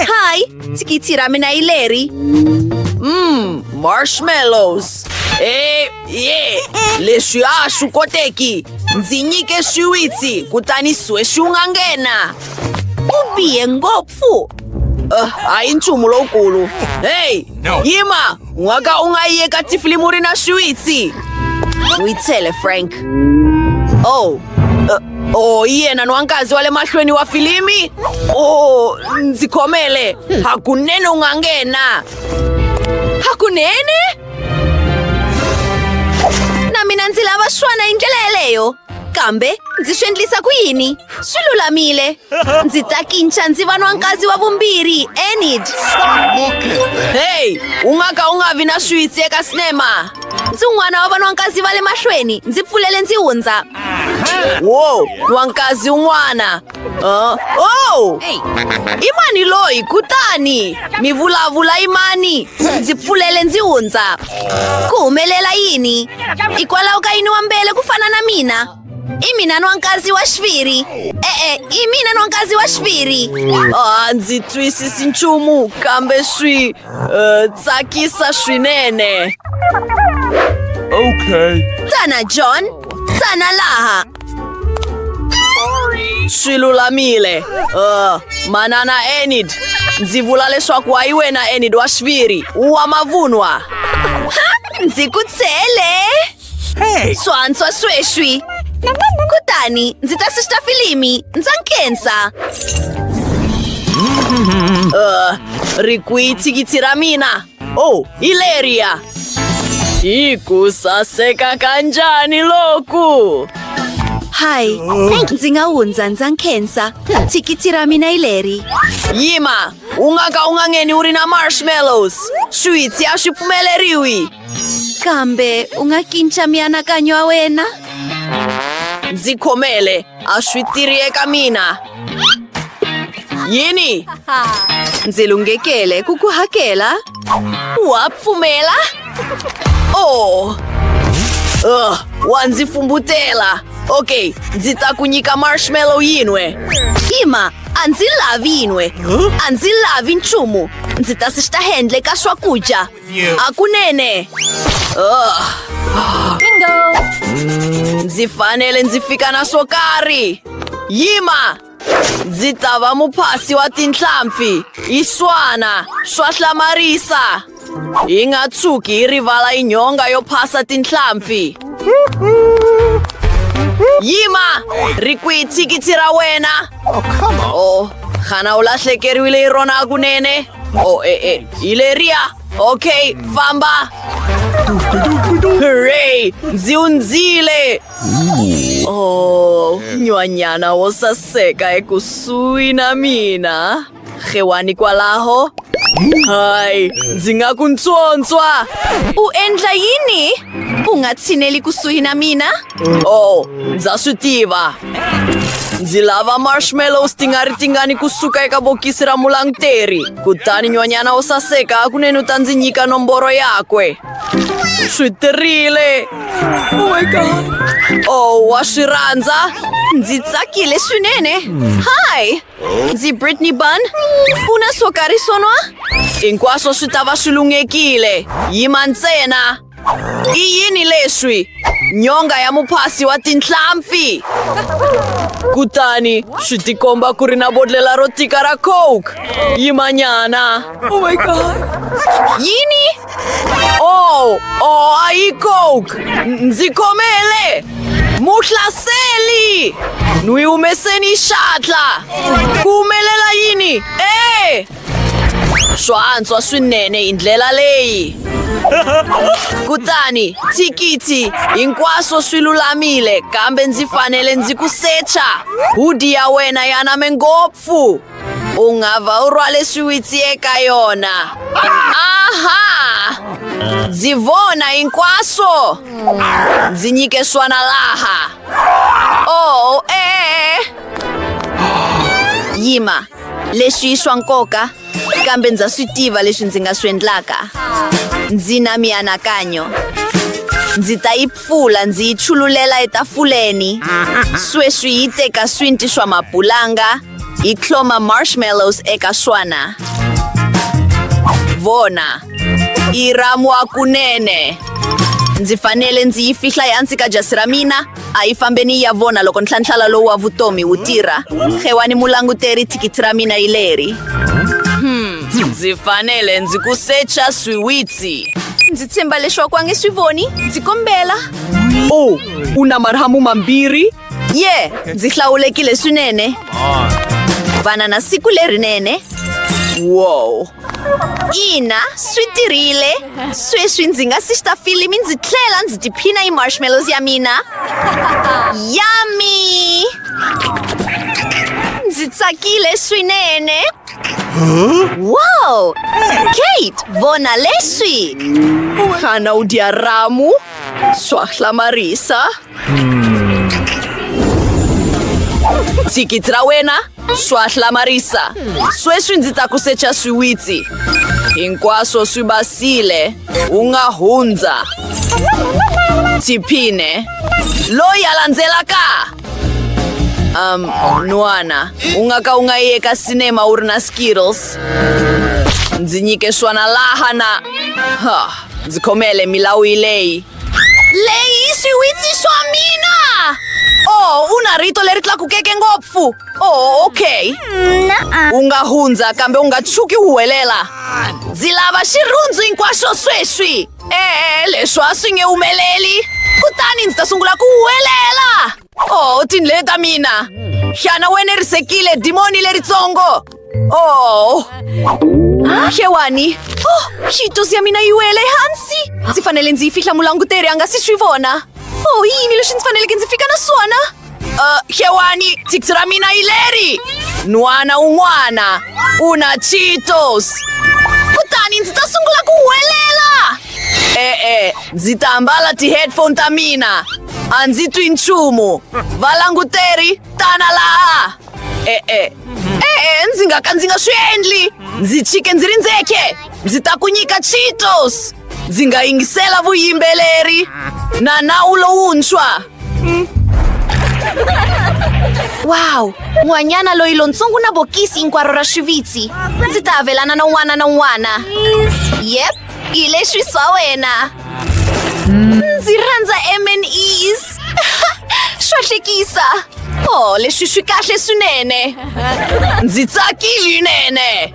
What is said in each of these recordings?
Hi, sikitsi ra mina hi leri. Mmm, marshmallows. Eh, ye, leswi a swi koteki. Ndzi nyike swiwitsi kutani sweswi u nga nghena. U bihe ngopfu. Uh, hayi nchumu lowukulu. Hey, yima! Ngwaga o nga ye ka tifili muri na swiwitsi. Witsele Frank. Oh. Uh, oh yena nwankazi wa le mahlweni wa filimi oh ndzi khomele hakunene u nga nghena hakunene na mina ndzi lava swona hi ndlela yeleyo kambe ndzi swi endlisa ku yini swi lulamile ndzi ta kinca ndzi va nwankazi wa vumbirhi enid heyi u nga ka u nga vi na switsi eka sinema ndzi un'wana wa vanwankazi va le mahlweni ndzi pfulele ndzi hundza wo nwankazi un'wana uh, o i mani loyi kutani mi vulavula i mani ndzi pfulele ndzi hundza ku humelela yini hikwalaho ka yini wa mbele ku fana na mina i mina nwankazi wa xiviri e-e i mina nwankazi wa xiviri a ndzi twisisi nchumu kambe swi uh, tsakisa swinene okay tana john tana laha swi lulamile uh, manana enid ndzi vula leswaku wa yi wena enid wa xiviri wa mavunwa ndzi ku tshele Hey! Swantswa sweswi. Kutani ndzi ta sista filimi ndza nkhensa. Uh, ri kwi thikithi ra mina. Oh, hi leriya. Hi ku saseka kanjani loku? Hi, ndzi nga hundza ndza nkhensa. Thikithi ra mina hi leri. Yima, u nga ka u nga ngheni u ri na marshmallows. Switsi a swi pfumeleriwi. kambe u nga kinca mianakanyo ya wena ndzi khomele a swi tiri eka mina yini ndzi lunghekele ku ku hakela wa pfumela o oh. uh, wa ndzi fumbutela okay ndzi ta ku nyika marshmallow yin'we ima a ndzi lavi yin'we a ndzi lavi nchumu ndzi ta swi xihendle ka swakudya akunene Ah. ndzi fanele ndzi fika na swo karhi yima ndzi ta va muphasi wa tinhlampfi yi swana swa hlamarisa hi nga tshuki hi rivala yi nhonga yo phasa tinhlampfi yima ri kwihi thikithi ra wena o xana u lahlekeriwile hi rona kunene Oh, eh, eh, Ileria! Ok, Famba! Hooray! Ziunzile! Oh, nywanyana wo saseka ekusuhi na mina. Rhewani kwalaho? Hayi, ndzi nga ku ntswontswa! U endla yini? U nga tshineli kusuhi na mina? Oh, ndza swi tiva ndzi lava marshmallow ti nga ri tingani kusuka eka bokisi ra mulanguteri kutani nyonyana wo saseka kuneni u ta ndzi nyika nomboro yakwe swi tirile oh my god oh wa swi rhandza ndzi tsakile swinene hi ndzi britney bun u na swo karhi swonwa hinkwaswo swi ta va swi lunghekile yima ntsena I yini leswi? Nyonga ya muphasi wa tinhlampfi! Kutani swi tikomba ku ri na bodlela ro tika ra coke. Yimanyana. Oh my god. Yini? Oh, oh, a yi coke. Ndzi khomele. Muhlaseli! Nwi humeseni xatla. Ku humelela yini? Eh! Swa antswa swinene hi ndlela leyi. Kutani thikithi hinkwaswo swi lulamile kambe ndzi fanele ndzi ku secha. Hudi ya wena ya name ngopfu. U nga va u rhwale swiwitsi eka yona. Aha! Ndzi vona hinkwaswo. Ndzi nyike swona laha. Oh, eh. Yima. leswi i swa nkoka kambe ndza swi tiva leswi ndzi nga swi endlaka ndzi na mianakanyo ndzi ta yi pfula ndzi yi chululela etafuleni sweswi yi teka swinti swa mabulanga yi tlhoma marshmallows eka swona vona yi ramwa kunene ndzi fanele ndzi yi fihla ehansi ka jasi ra mina A hi fambeni yi ya vona loko ntlhantlhala lowu wa vutomi wu tirha. Xewani mulanguteri, thikithi ra mina hi leri. Hmm, ndzi fanele ndzi ku secha swiwitsi. Ndzi tshemba leswaku a nge swi voni. Ndzi kombela. O, u na marhamu mambirhi? Ye, ndzi hlawulekile swinene. Vana na siku lerinene. Wow, ina swi tirhile sweswi ndzi nga si xita filimi ndzi tlhela ndzi tiphina hi marshmallows ya mina yami ndzi tsakile swinene wow kate vona leswi xana u dya ramu swa hlamarisa thikithi ra wena swa hlamarisa sweswi ndzi ta ku secha swiwitsi hinkwaswo swi basile u nga hundza tiphine loyi a landzelaka um n'wana u nga ka u nga yi eka sinema u ri na skittles ndzi nyike swona laha na ha ndzi khomele milawu yi leyi Lei si uizi sua mina! Oh, una rito leri tlakukeke ngopfu. Oh, okay. U nga hundza kambe u nga tshuki u huwelela. Ndzi lava xirhundzu hinkwaxo sweswi. E-e, leswi a swi nge humeleli. Kutani ndzi ta sungula ku huwelela. Oh, tindleve ta mina! Xana u enerisekile dimoni leritsongo? Oh! Xewani! Oh, xitosi ya mina yi wele ehansi! Ndzi fanele ndzi yi fihla mulanguteri a nga si swi vona. Oh, yini leswi ndzi faneleke ndzi fika na swona? Uh, xewani, thiksi ra mina yi leri! N'wana un'wana u na Cheetos! Kutani ndzi ta sungula ku huwelela! E-e, ndzi ta ambala ti-headphone ta mina a ndzi twi nchumu valanguteri tana laha e-e e-e ndzi nga ka ndzi nga swi endli ndzi chike ndzi ri ndzeke ndzi ta ku nyika cheetos ndzi nga yingisela vuyimbeleri na nawu lowuntshwa wow n'wanyana loyi lontsongo na bokisi hinkwaro ra swivitsi ndzi ta avelana na un'wana na un'wana yep hi leswi swa wena ndzi rhandza mnes swa hlekisa o leswi swi kahle swinene ndzi tsakile nene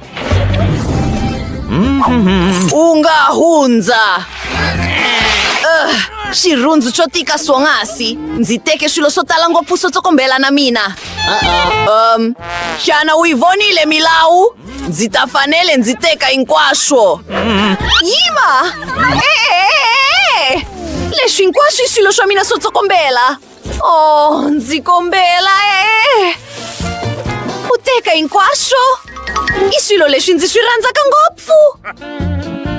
u nga hundza Ugh, xirhundzu xo tika swonghasi ndzi teke swilo swo tala ngopfu swo tsokombela na mina um xana u yi vonile milawu Ndzi ta fanele ndzi teka hinkwaswo. Yima! E-e-e-e! Leswi hinkwaswo i swilo swa mina swo tsokombela. Oh, ndzi kombela e. U teka hinkwaswo. I swilo leswi ndzi swi rhandzaka ngopfu.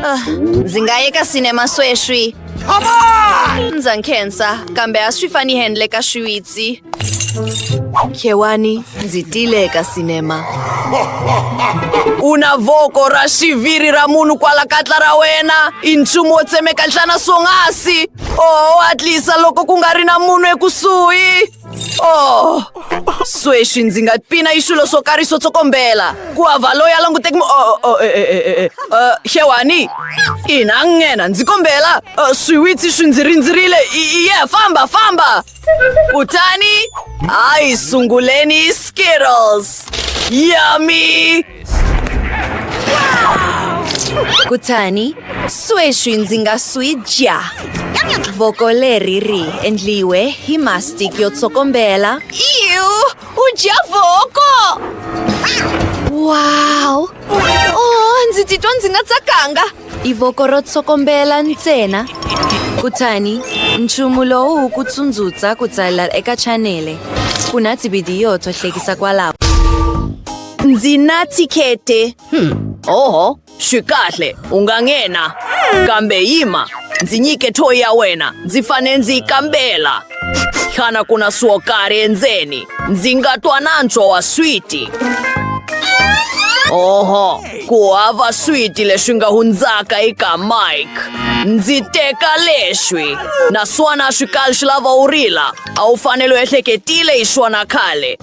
Ah, ndzi nga yeka sinema sweswi. ndza nkhensa kambe a swi fani handle ka swiwitsi khewani ndzi tile eka sinema u na voko ra xiviri ra munhu kwala katla ra wena i nchumu wo tsemeka nhlana swonghasi oho hatlisa loko ku nga ri na munhu ekusuhi Oh, sweswi ndzi nga pina yi swilo swo karhi swo tsokombela ku hava loyi a languteki mu- oh, oh, oh, eh, eh, eh, eh, eh, xewani ina nghena ndzi kombela Eh, swiwitsi swi ndzi rindzerile I- i- ye famba famba kutani hayi sunguleni skittles yummy kutani sweswi ndzi nga swi dya voko leri ri endliwe hi mastic yo tsokombela iu u dya voko wow oh ndzi titwa ndzi nga tsakanga i voko ro tsokombela ntsena kutani nchumu lowu wu ku tsundzuxa ku tsalela eka chanele ku na tivhidiyo to hlekisa kwalaho Ndzi na thikete. Hmm. Oho, swi kahle, u nga nghena. Kambe yima, ndzi nyike thoyi ya wena, ndzi fane ndzi yi kambela. Xana ku na swo karhi endzeni? Ndzi nga twa nantswo wa switi. Oho, ku hava switi leswi nga hundzaka eka Mike. Ndzi teka leswi. Naswona swi kali swi lava u rila. A wu fanele u ehleketile hi swona khale.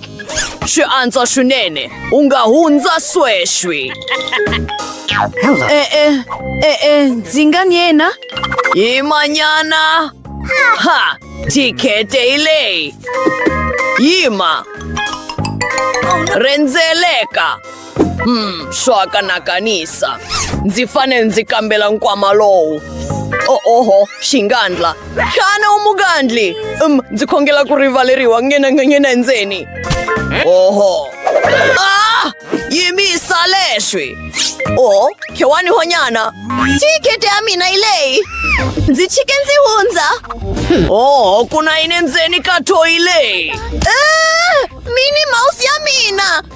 Xi antswa swinene u nga hundza sweswi e-e e-e ndzi nga ni yena hi manyana ha tikhete hi leyi yima rhendzeleka Hmm, swaka na kanisa. Ndzi fanele ndzi kambela nkwama lowu. Oh, oho, xingandla. Xana u mugandli? Um, ndzi khongela ku rivaleriwa ngena ngena endzeni. Oho. Ah! Yimisa leswi. Oh, khewani honyana. Thikete ya mina yi leyi. Ndzi chike ndzi hundza. Oho, ku na yini endzeni ka thoyi leyi? Ah! Mini mouse ya mina.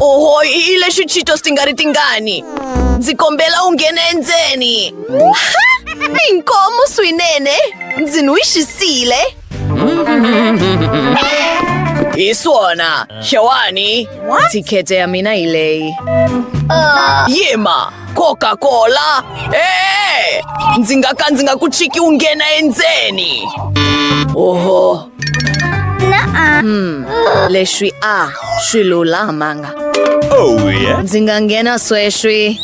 oho i lexi cheetos ti nga ri tingani ndzi kombela u nghene endzeni inkomu swinene ndzi n'wi xisile hi swona xewani thikhete ya mina hi leyi yima coca cola ee ndzi nga ka ndzi nga ku chiki u nghena endzeni oho Hmm, leswi a swi lulamanga oh, yeah. ndzi nga nghena sweswi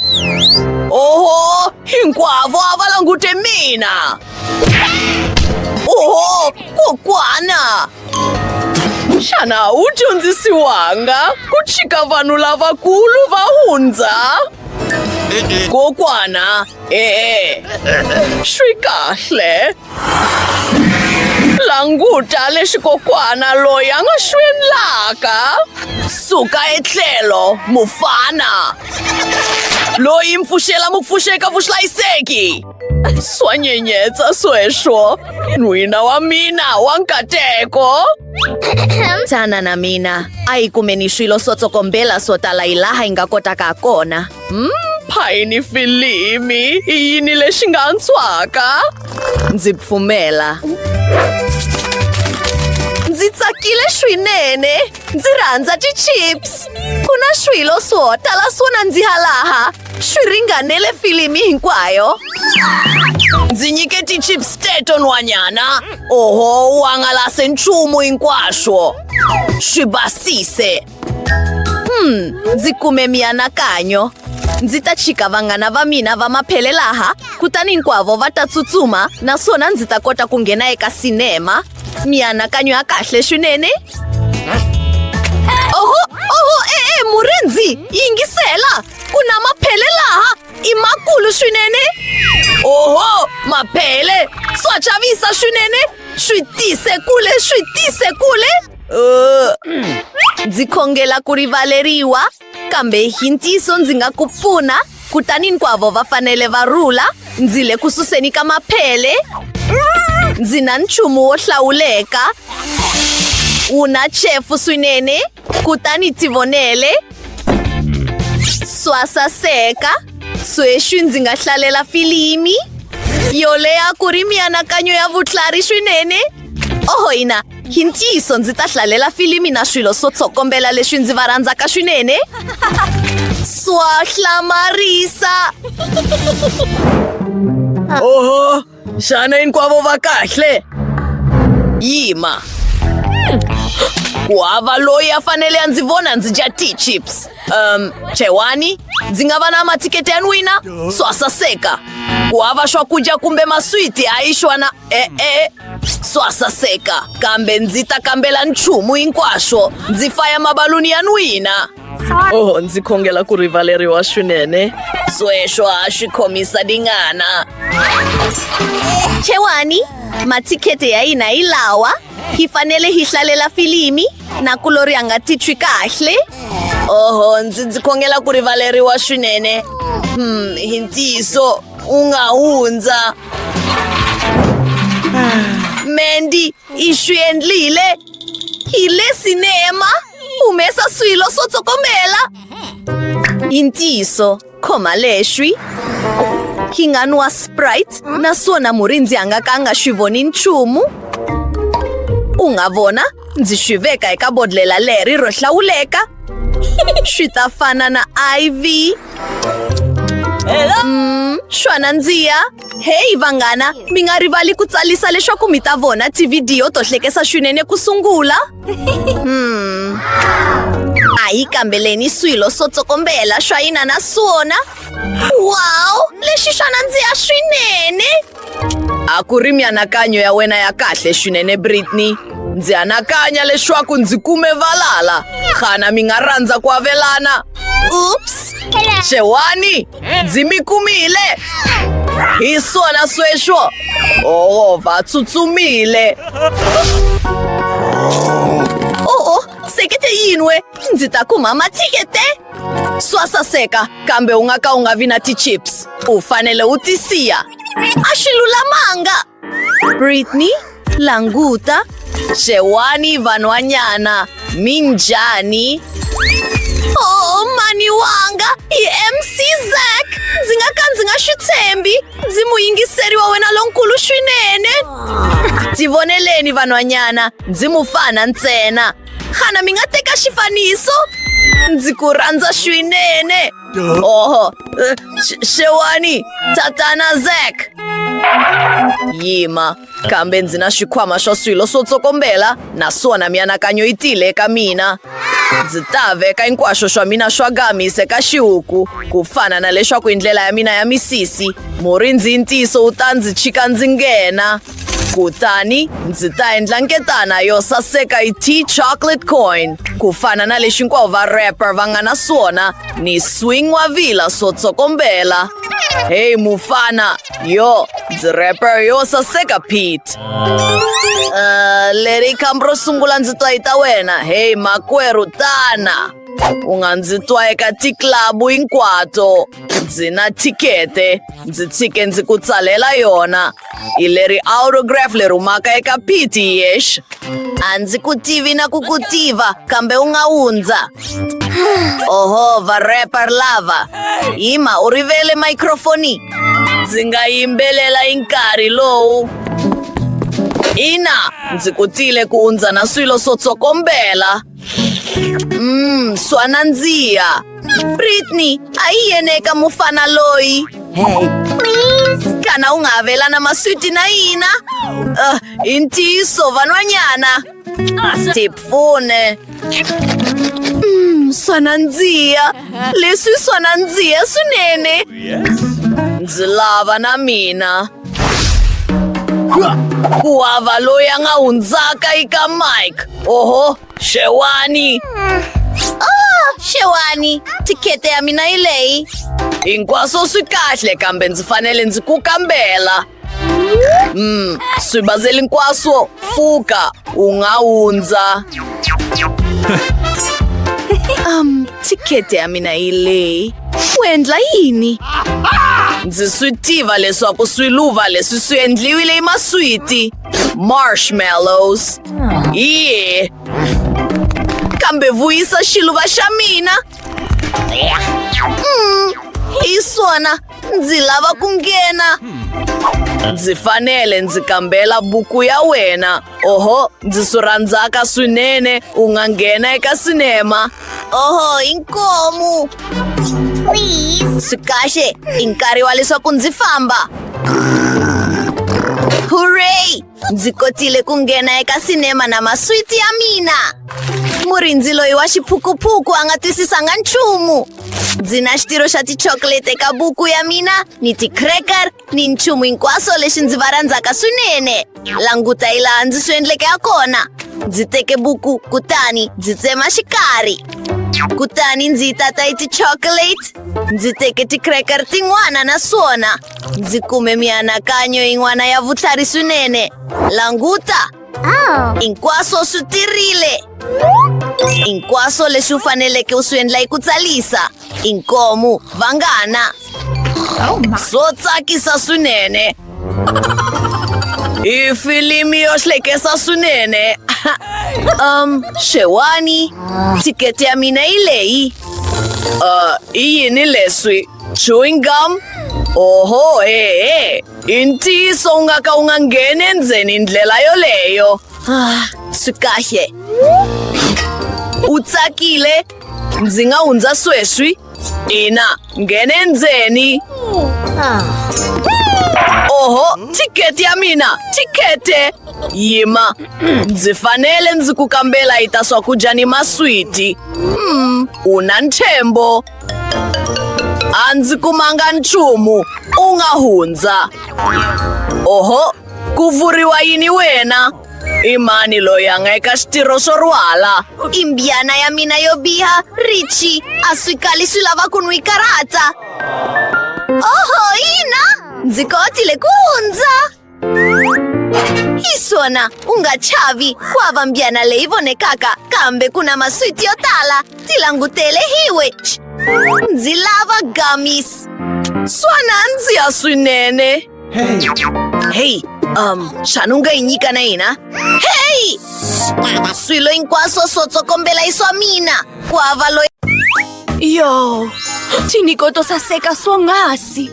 oho hinkwavo a va langute mina oho kokwana xana wu dyondzisiwanga ku chika vanhu lavakulu va hundza kokwana E, swi kahle languta leswi kokwana loyi a nga swi endlaka suka etlhelo mufana loyi mpfuxela mupfuxeka vuhlayiseki swa nyenyetsa sweswo n'wina wa mina wa nkateko tana na mina a yi kumeni swilo swo tsokombela swo tala hi laha yi nga kotaka ha kona Payini filimi i yini lexi nga antswaka? Ndzi pfumela. Ndzi tsakile swinene. Ndzi rhandza ti-chips. Ku na swilo swo tala swo nandziha laha. Swi ringanele filimi hinkwayo. Ndzi nyike ti-chips teto nhwanyana. Oho, u hangalase nchumu hinkwaswo. Swi basise. Hmm, ndzi kume mianakanyo ndzi ta chika vanghana va mina va maphele laha kutani hinkwavo va ta tsutsuma naswona ndzi ta kota ku nghena eka sinema mianakanyo ya kahle swinene oho oho e-e murindzi yingisela ku na maphele laha i makulu swinene oho maphele swa chavisa swinene swi tise kule swi tise kule Ndzi khongela ku rivaleriwa, kambe hi ntiyiso ndzi nga ku pfuna. Kutani hinkwavo va fanele va rhula, ndzi le ku suseni ka maphele. Ndzi na nchumu wo hlawuleka, wu na chefu swinene, kutani tivonele. Swa saseka, sweswi ndzi nga hlalela filimi yo leha ku ri mianakanyo ya vutlhari swinene. oho hina hi ntiyiso ndzi ta hlalela filimi na swilo swo tsokombela leswi ndzi va rhandzaka swinene swa hlamarisa oho xana hinkwavo va kahle yima ku hava loyi a fanele a ndzi vona ndzi dya tea chips um chewani ndzi nga va na mathikete ya n'wina swa saseka ku hava swakudya kumbe maswiti a yi xwana e-e swasaseka kambe ndzi ta kambela nchumu hinkwaswo ndzi faya mabaluni ya n'wina oho ndzi khongela ku rivaleriwa swinene sweswo ha swi khomisa dingana Chewani, matikhete ya hina hi lawa. Hi fanele hi hlalela filimi na kulori a nga titwi kahle. oho ndzi ndzi khongela ku rivaleriwa swinene hmm hi ntiyiso u nga hundza Mandy, ishwi endlile. Hi le cinema. Humesa swilo swo tsokombela. I ntiyiso, khoma lexwi. Hi nga nwa Sprite naswona murindzi a nga ka a nga swi voni nchumu. U nga vona, ndzi swi veka eka bodlhela leri ro hlawuleka. Swi ta fana na IV. Mm, swa nandziha heyi vanghana mi nga rivali ku tsarisa leswaku mi ta vona tivhidiyo to hlekesa swinene ku sungula hmm. a yi kambeleni swilo swo tsokombela swa yina na swona wow lexi swa nandziha swinene a ku ri mianakanyo ya wena ya kahle swinene britney ndzi anakanya leswaku ndzi kume valala xana mi nga rhandza ku avelana ups xewani ndzi mi kumile hi swona sweswo oo va tsutsumile sekete yini we ndzi ta kuma mathikete swa saseka kambe u nga ka u nga vi na ti-chips u fanele u ti siya a swi lulamanga britney languta xewani vanhwanyana mi njhani oh mani wanga i mc zak ndzi nga ka ndzi nga swi tshembi ndzi muyingiseri wa wena lonkulu swinene ndzi voneleni vanhwanyana ndzi mufana ntsena xana mi nga teka xifaniso ndzi ku rhandza swinene oho eh, Sh- xewani tatana zak yima kambe ndzi na xikhwama xa swilo swo tsokombela naswona mianakanyo yi tile eka mina ndzi ta veka hinkwaswo swa mina swa gamis eka xihuku ku fana na leswaku hi ndlela ya mina ya misisi murindzi yi ntiyiso wu ta ndzi chika ndzi nghena kutani ndzi ta endla nketana yo saseka yi tea chocolate coin ku fana na lexi hinkwavo va rapper va nga na swona ni swing wa vila swo tsokombela heyi mufana Io, rapper yo saseka Pete. Uh, Larry Kambro sungula ndzi twa ta wena. Hey makwerhu tana. U nga ndzi twa eka tiklabu hinkwato. Ndzi na thikete. Ndzi tshike ndzi ku tsalela yona. Hi leri autograph leri humaka eka Pete yesh. A ndzi ku tivi na ku ku tiva kambe u nga wundza. Oho, varre parlava. Ima u rivele microfoni. Ndzi nga yimbelela hi nkarhi lowu. Ina, ndzi kutile ku undza na swilo swo tsokombela. Mm, swa nandziha. Britney, a yi yene eka mufana loyi. Kana u nga avelana maswiti na yina? Uh, hi ntiyiso van'wanyana. Tipfune. Mm, swa nandziha. Leswi swa nandziha swinene. Ndzi lava na mina. Ku hava loyi a nga hundzaka eka Mike. Oho, xewani. Oh, xewani. Tikhete ya mina yi leyi. Hinkwaswo swi kahle kambe ndzi fanele ndzi ku kambela. Mm, swibazeli hinkwaswo pfuka u nga hundza um thikete ya mina yi leyi u endla yini ndzi swi tiva leswaku swiluva leswi swi endliwile hi maswiti marshmallows ye kambe vuyisa xiluva xa mina mm, hi swona ndzi lava ku nghena ndzi fanele ndzi kambela buku ya wena oho ndzi swi rhandzaka swinene u nga nghena eka sinema oho inkomu swi kahle i nkarhi wa leswaku ndzi famba hurray ndzi kotile ku nghena eka sinema na maswiti ya mina murindzi loyi wa xiphukuphuku a nga twisisanga nchumu ndzi na xitirho xa tichocolate eka buku ya mina ni ti-cracker ni nchumu hinkwaswo lexi ndzi va rhandzaka swinene languta hi laha ndzi swi endleke ha kona ndzi teke buku kutani ndzi tsema xikarhi kutani ndzi yi tata hi ti-chocolate ndzi teke ti-cracker tin'wana naswona Ndzi kume mianakanyo yin'wana ya vutlhari swinene. Languta! Oh. Hinkwaswo swi tirile. Hinkwaswo leswi u faneleke u swi endla hi ku tsarisa. Inkomu, vanghana. Oh, swo tsakisa swinene. I filimi yo hlekesa swinene. um, xewani. Thikete ya mina yi leyi. Uh, i yini leswi? Chewing gum? Oho, ee, intiso u nga ka u nga ngheni endzeni ndlela yoleyo. Ah, swi kahle. U tsakile? Ndzi nga hundza sweswi? Ina, nghene endzeni. Oho, thikete ya mina, thikete! Yima, ndzi fanele ndzi ku kambela yi ta swakudya ni maswiti. Hmm, u na ntshembo. a ndzi kumanga nchumu u nga hundza oho ku vuriwa yini wena i mani loyi a nga eka xitirho xo rwala i mbyana ya mina yo biha richi a swi kali swi lava ku n'wi karata oho yina ndzi kotile ku hundza Isona, unga chavi, kwava mbyana leivone kaka, kambe kuna maswiti yotala, tilangutele hiwe. Ch- Ndzi lava gummies. Swana ndzi ya swinene. Hey, um, xana u nga yi nyika na hina? Hey! Swilo hinkwaswo swo tsokombela i swa mina. Kwava loyi yo chiniko to saseka swonghasi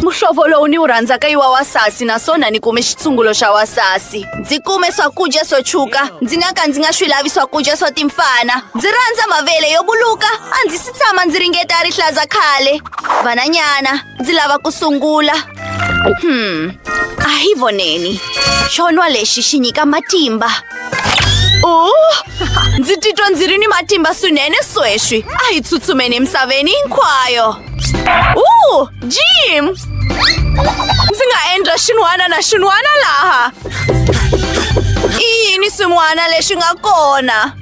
muhlovo lowu ni wu rhandzaka i wa wasasi naswona ni kume xitsungulo xa wasasi ndzi kume swakudya swo tshuka ndzi nga ka ndzi nga swi lavi swakudya swa timfana ndzi rhandza mavele yo buluka a ndzi si tshama ndzi ringeta rihlaza khale vananyana ndzi lava ku sungula Hmm. A hi voneni. Xo nwa lexi xi nyika matimba. Oh, ndzi titwa ndzi ri ni matimba swinene sweswi. A hi tsutsumeni emisaveni hinkwayo. Uh, Jim! Ndzi nga endla xin'wana na xin'wana laha. I yini swin'wana leswi nga kona?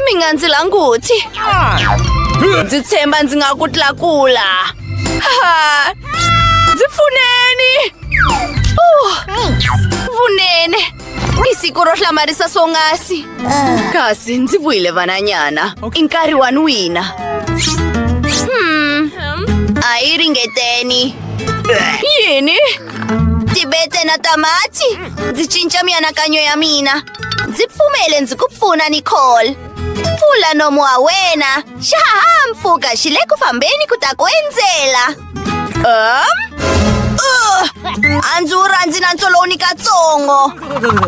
mi nga ndzi languti ndzi tshemba ndzi nga ku tlakula ndzi pfuneni vunene i siku ro hlamarisa swongasi kasi ndzi vuyile vananyana i nkarhi wa ni wina hmm. a yi ringeteni yini ndzi bete na tamati ndzi cinca mianakanyo ya mina ndzi pfumele ndzi ku pfuna nicole pfula nomu wa wena xihahampfhuka xi le ku fambeni ku ta ku endzela um uh, a ndzi wu rhandzi na ntsolowu ni katsongo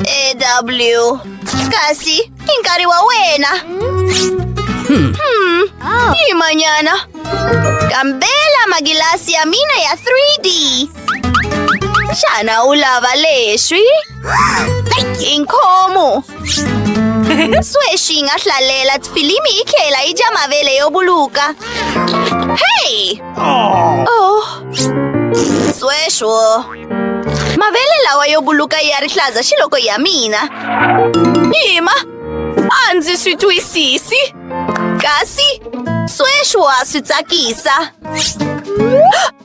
ew kasi I nkarhi wa wena. Hmm. Hmm. Oh. Hi manyana. Kambela magilasi ya mina ya 3D. Xana u lava leswi? I nkhomo. Sweswi yi nga hlalela filimi yi tlhela yi dya mavele yo buluka. Hey! Oh. Sweswo. Mavele lawa yo buluka ya rihlaza xi loko ya mina. Yima, a ndzi swi twisisi. Kasi sweswi wa swi tsakisa.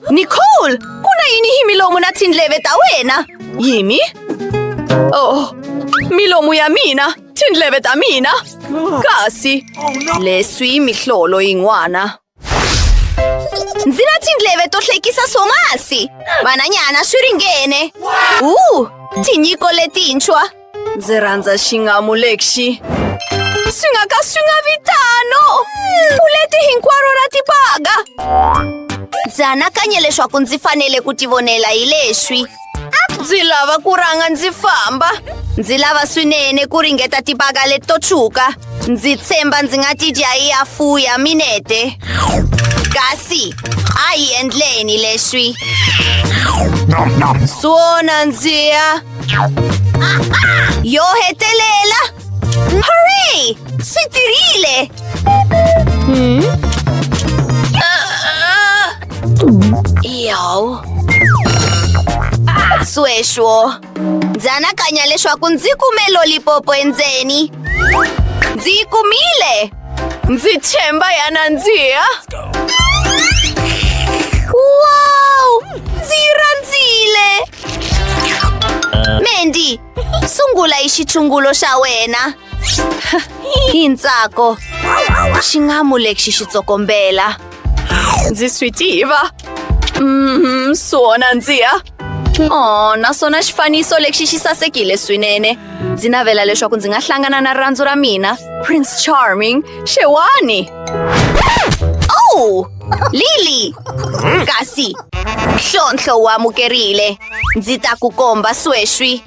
Nicole, ku na yini hi milomu na tindleve ta wena? Yimi? Oh, milomu ya mina, tindleve ta mina. Kasi leswi mihlolo yin'wana. Ndzi na tindleve to hlekisa swomasi. Vananyana swi ringene. U, tinyiko letintshwa. Ndzi rhandza xingamu lexi. Swi nga ka swi nga vi tano. Puleti hinkwaro ra tibaga. Ndzi anakanye leswaku ndzi fanele ku tivonela hi leswi. ndzi lava ku rhanga ndzi famba ndzi lava swinene ku ringeta tibaka leti to tshuka ndzi tshemba ndzi nga ti dya yi ya fuya minete kasi a hi endleni leswi swona ndzi ya yo hetelela ¡Hooray! ¡Soy terrible! ¿Mm? Yo. Sweswo. Ndzi anakanya leswaku ndzi kume lolipopo endzeni. Ndzi yi kumile. Ndzi tshemba ya nandziha. Wow! Ndzi yi rhandzile. Mandy, sungula hi xitshungulo xa wena hi ntsako xi nga mu lexi xi tsokombela ndzi swi tiva mm, swona ndziya o naswona xifaniso lexi xi sasekile swinene ndzi navela leswaku ndzi nga hlangana na rirhandzu ra mina prince charming xewani o lily kasi nhlontlho wa amukerile Ndzi ta ku komba sweswi.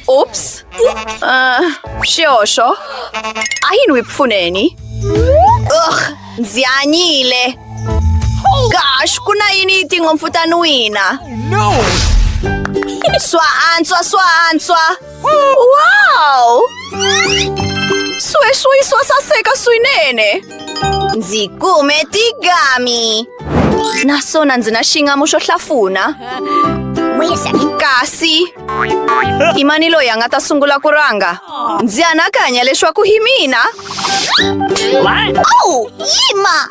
Oops. Uh, xihoxo. A hi n'wi pfuneni. Ugh, ndzi hanyile. Gosh, ku na yini yi tinhompfu ta n'wina? Swa antswa, swa antswa. Wow! Swe swe swa saseka swinene. Ndzi kume tigami. Naswona ndzi na xingamu xo hlafuna. Kasi i mani loyi a nga ta sungula ku ranga? Ndzi anakanya leswaku hi mina. Oh, yima!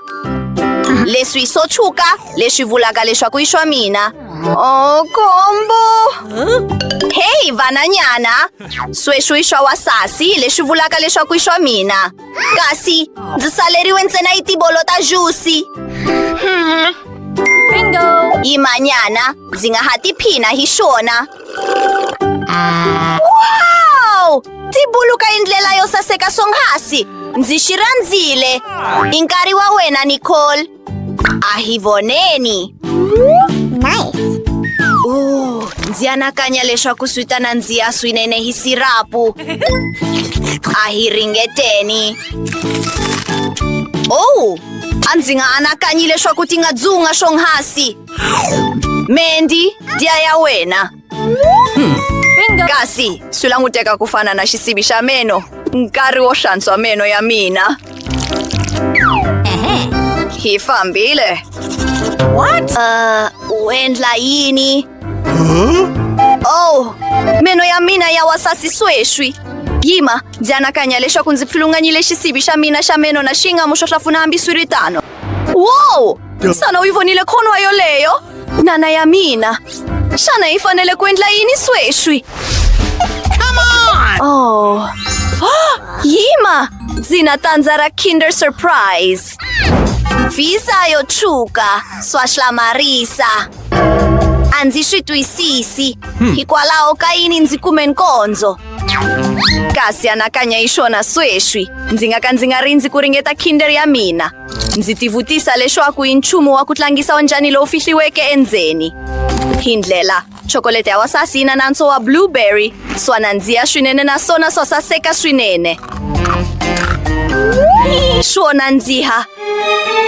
Leswi swo tshuka leswi vulaka leswaku i swa mina. Oh, combo! Hey, vananyana! Sweswi i swa wasasi leswi vulaka leswaku i swa mina. Kasi ndzi saleriwe ntsena yi tibolo ta jusi. Bingo! Yimanyana, ndzi nga ha tiphina hi swona. Wow! Tibulu ka indlela yo saseka swonghasi! Ndzi xi rhandzile! I nkarhi wa wena, Nicole! A hi voneni. Nice. Uh, ndzi anakanya leswaku swi ta nandziha swinene hi sirapu. A hi ringeteni. Oh, a ndzi nga anakanyi leswaku ti nga dzunga swonghasi. Mandy, dya ya wena. Bingo! Kasi, swi languteka ku fana na xisibi xa meno. Nkarhi wo hlantswa meno ya mina. Hi fambile. What? Uh, u endla yini? Oh, meno ya mina ya wa sasi sweswi. Yima, ndzi anakanya leswaku ndzi pfilunganyile xisibi xa mina xa meno na xingamu xo hlafuna hambiswiritano. Wow! Xana u yi vonile khonwa yoleyo? Nana ya mina. Xana hi fanele ku endla yini sweswi? Oh. Yima! Ndzi na tandza ra Kinder Surprise. Visa yo tshuka, swa hlamarisa. A ndzi swi twisisi. Hikwalaho ka yini ndzi kume nkondzo? kasi anakanya hi swona sweswi ndzi nga ka ndzi nga rindzi ku ringeta kinder ya mina ndzi tivutisa leswaku hi nchumu wa ku tlangisa onjhani lowu fihliweke endzeni hi ndlela chokolete ya wasasi yi na nantswo wa blueberry swa nandziya swinene naswona swa saseka swinene swo nandziha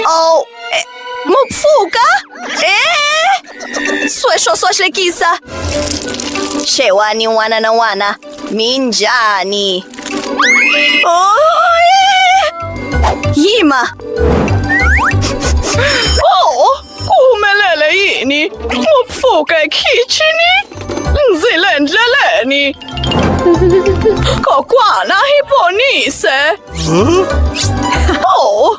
o oh, eh, mupfuka e eh? Sweswo swa hlekisa. Xewani n'wana na n'wana, mi njhani? Oh, Yima! Oh, ku humelele yini? Mu pfuka ekhixini? Ndzi le ndleleni. Kokwana hi ponise. Oh,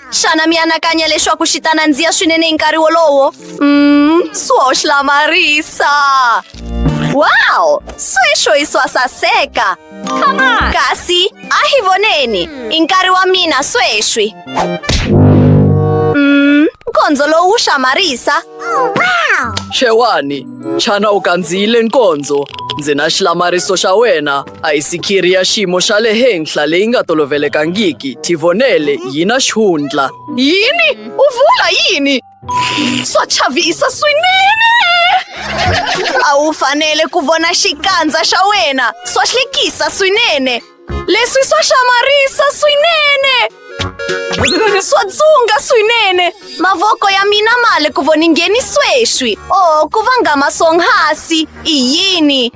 xana mi anakanya leswaku xi ta nandziha swinene hi nkarhi wolowo mm, swo hlamarisa wow sweswo i swa saseka kasi a hi voneni i nkarhi wa mina sweswi mm, nkondzo lowu wu hlamarisa xewani xana u kandziyile nkondzo ndzi na xilamariso xa wena Ayisikiri ya xiyimo xa le henhla leyi nga tolovelekangiki tivonele yi na xihundla yini u vula yini swa chavisa swinene a wu fanele ku vona xikandza xa wena swa hlekisa swinene leswi swa hlamarisa swinene Swa dzunga swinene! Mavoko ya mina ma le ku voningeni sweswi. Oh, ku vangama swonghasi. I yini?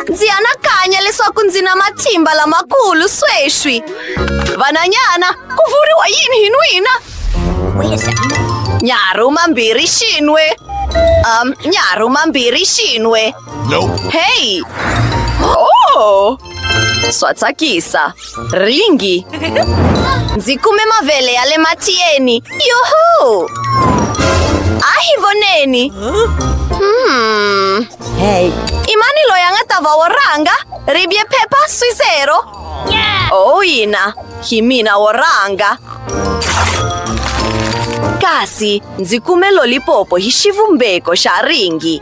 Ndzi anakanya leswaku ndzi na matimba lamakulu sweswi. Vananyana, ku vuriwa yini hi n'wina? Nyaru mambirhi xinwe. Um, nyaru mambirhi xinwe. Hey! Oh! Swa tsakisa. Ringi! Ndzi kume mavele ya le matiyeni! Yuhu! A hi voneni! Hmm. Hey. I mani loyi a nga ta va wo rhanga? Ribye phepha swisero? Oh, yina! Hi mina wo rhanga! Kasi ndzi kume lolipopo hi xivumbeko xa ringi.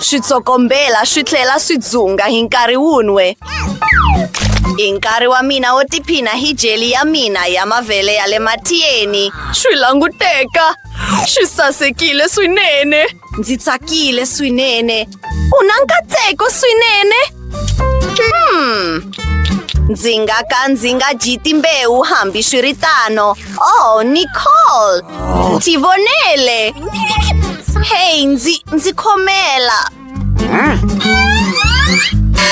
switsokombela swi tlhela swi dzunga hi nkarhi wun'we hi nkarhi wa mina wo tiphina hi jeli ya mina ya mavele ya le matiyeni swi languteka swi sasekile swinene ndzi tsakile swinene u na nkatseko swinene hmm. ndzi nga ka ndzi nga dyi timbewu hambi swi ri tano Oh, Nicole! Ndzi vonele! Hey, ndzi ndzi khomela!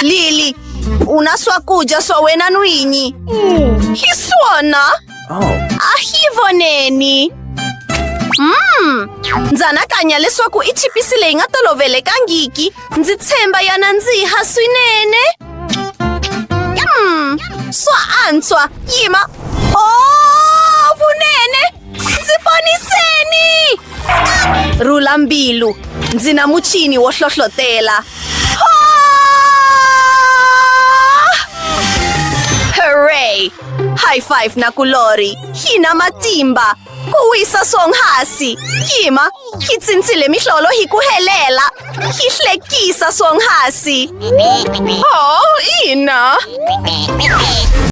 Lily, u na swakudya swa wena n'winyi! Hi swona! A hi voneni! Mm, ndzi anakanya leswaku i chipisi leyi nga tolovelekangiki ndzi tshemba yana ndzi ha swinene Mm, swa antswa yima o vunene ndzi poniseni rhula mbilu ndzi na muchini wo hlohlotela hooray high five na kulori yi na matimba Ku wisa swonghasi. Yima, yi tsintsile mihlolo hi ku helela. Yi hlekisa swonghasi. Oh, ina.